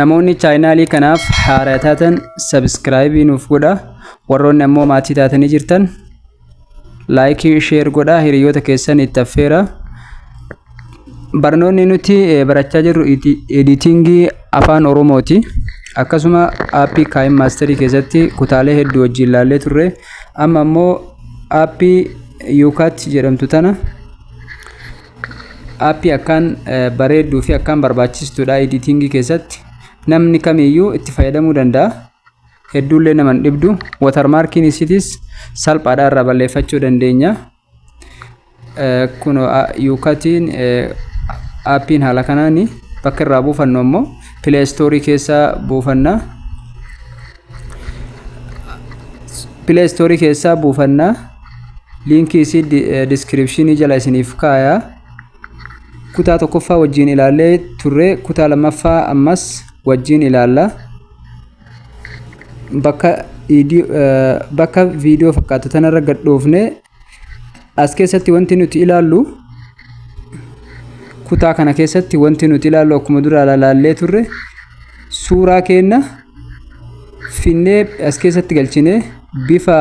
Namoonni chaayinaalii kanaaf haaraa taatan sabiskiraayibii nuuf godha. Warroonni ammoo maatii taatanii jirtan laayikii sheer godha hiriyoota keessan itti affeera. Barnoonni nuti eh, barachaa jirru iti- editingii afaan Oromooti. Akkasuma aappii Kaayim Maasterii keessatti kutaalee hedduu wajjin ilaallee turre. Amma ammoo aappii Yuukaat jedhamtu tana Aappii akkaan bareedduu fi akkaan barbaachistuudha editingii keessatti. Namni kamiyyuu itti fayyadamuu danda'a. Hedduullee nama hin dhibdu. Watermarkiin isiitis salphaadha irraa balleeffachuu dandeenya. Kunoo yuukatiin aappiin haala kanaan bakka irraa buufannu ammoo pileestoorii keessa buufanna. Play Store keessaa buufanna. Liinkii isii description jala isiniif kaaya. Kutaa tokkoffaa wajjin ilaallee turre kutaa lammaffaa ammas wajjin ilaalla. Bakka viidiyoo fakkaatu tanarra gad dhoofne As keessatti wanti nuti ilaallu kutaa kana keessatti wanti nuti ilaallu akkuma dura ilaallee turre suuraa keenna finnee as keessatti galchine bifa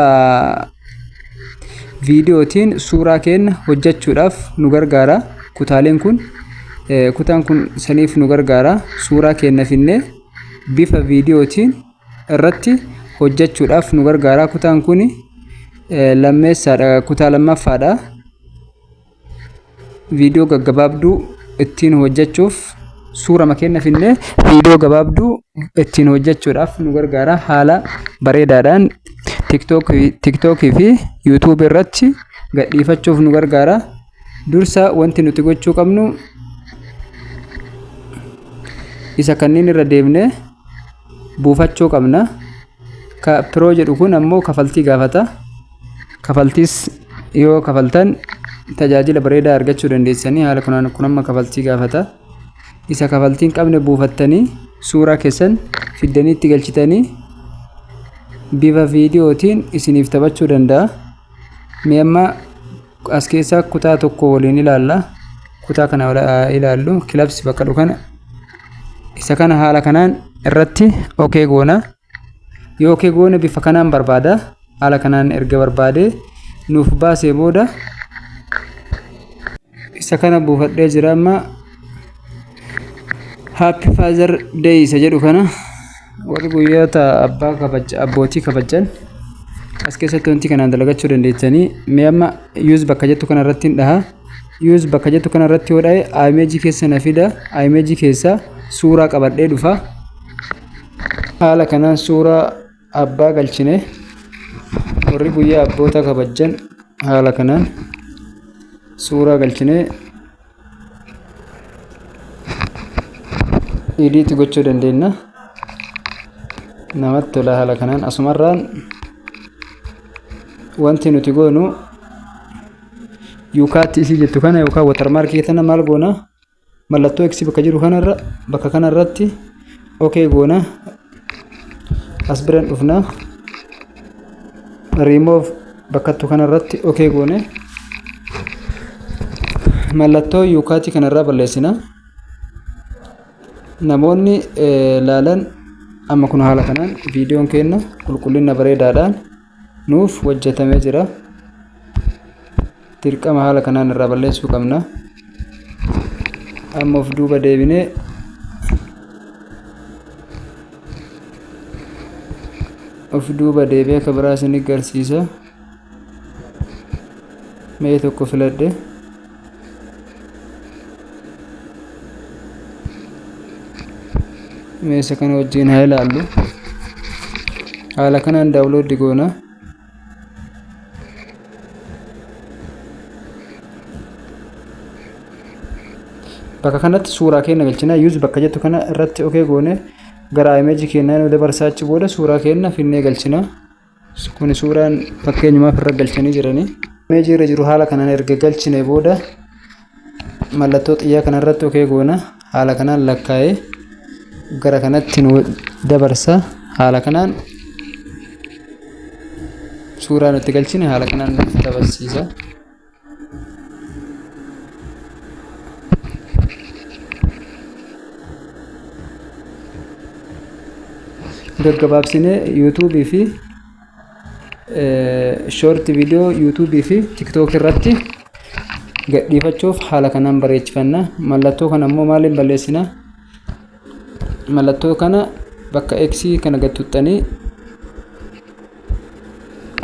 viidiyootiin suuraa keenna hojjechuudhaaf nu gargaara. Kutaaleen kun kutaan kun saniif nu gargaara. Suuraa keenna finnee bifa viidiyootiin irratti hojjechuudhaaf nu gargaara. Kutaan kun lammeessaadha, kutaa lammaffaadha. Viidiyoo gaggabaabduu ittiin hojjechuuf suurama keenya finnee viidiyoo gabaabduu ittiin hojjechuudhaaf nu gargaara. Haala bareedaadhaan TikTok fi YouTube irratti gadhiifachuuf nu gargaara. Dursa wanti nuti gochuu qabnu isa kanneen irra deemne buufachuu qabna. Ka Pro jedhu kun ammoo kafaltii gaafata. Kafaltiis yoo kafaltan tajaajila bareedaa argachuu dandeessanii haala kunaan kun amma kafaltii gaafata. Isa kafaltii hin qabne buufattanii suuraa keessan fiddanii itti galchitanii bifa viidiyootiin isiniif taphachuu danda'a. Mee amma As keessaa kutaa tokko waliin ilaalla. Kutaa kana ilaallu kilabs bakka dhufu kana isa kana haala kanaan irratti okee goona. Yoo okee goone bifa kanaan barbaada. Haala kanaan erga barbaadee nuuf baasee booda isa kana buufadhee jira amma Happy Father Day isa jedhu kana warri guyyoota abbaa kabaja abbootii kabajan as keessatti wanti kanaan dalagachuu dandeettanii mee amma use bakka jettu kana irratti hin dhaha use bakka jettu kana irratti yoo dhahe image keessa na fida image keessa suuraa qabadhee dhufa haala kanaan suuraa Abbaa galchine warri guyyaa abboota kabajjan haala kanaan suuraa galchine idiitti gochuu dandeenya. Namatti tola haala kanaan asumarraan wanti nuti goonu yuukaatti isii jettu kana yookaan watarmaarkii tana maal goona? mallattoo x bakka jiru kanarra bakka kanarratti ok goona as biran dhufna remove bakkattu kanarratti ok goone mallattoo yuukaatii kanarraa balleessina namoonni laalan amma kun haala kanaan viidiyoon keenna qulqullina bareedaadhaan nuuf hojjetamee jira dirqama haala kanaan irraa balleessuu qabna amma of duuba deebinee of duuba deebee akka biraa isin garsiisa mee tokko filadhe meesha kana wajjin haa ilaallu haala kanaan daawlooddi goona bakka kanatti suuraa keenya galchina yuuz bakka jettu kana irratti okee goone gara imeeji keenyaa nu dabarsaa achi booda suuraa keenya finnee galchina Kun suuraan fakkeenyumaaf irra galchanii jiranii. Imeejii irra jiru haala kanaan erga galchine booda mallattoo xiyyaa kanarratti okee goona. Haala kanaan lakkaa'ee gara kanatti nu dabarsa. Haala kanaan suuraan itti galchine haala kanaan nu dabarsiisa. gaggabaabsinee yuutuubii fi shoorti viidiyoo yuutuubii fi tiktook irratti gadhiifachuuf haala kanaan bareechifanna mallattoo kana immoo maaliin balleessina mallattoo kana bakka x kana gad tuttanii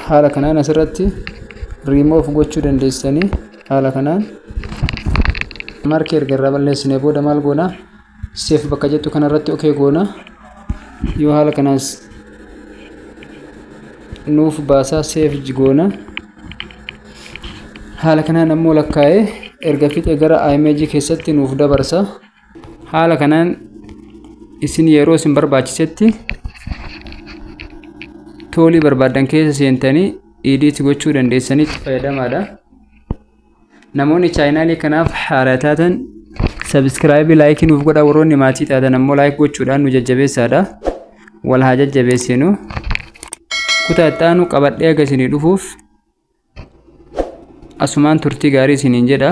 haala kanaan asirratti remove gochuu dandeessanii haala kanaan markii erga irraa balleessinee booda maal goona seef bakka jettu kanarratti ok goona yoo haala kanaas nuuf baasaa seef goona haala kanaan ammoo lakkaa'ee erga fixee gara img keessatti nuuf dabarsa haala kanaan isin yeroo isin barbaachisetti toolii barbaaddan keessa seentanii idiitti gochuu dandeessanii fayyadamaadha. Namoonni chaayinaalii kanaaf haaraa taatan sabiskiraayibii laayikii nuuf godha warroonni maatii taatan ammoo laayik gochuudhaan nu jajjabeessaadha. Wal haa jajjabeessinu. Kutaa itti aanu qabadhee akka isinii dhufuuf asumaan turtii gaarii isiniin jedha.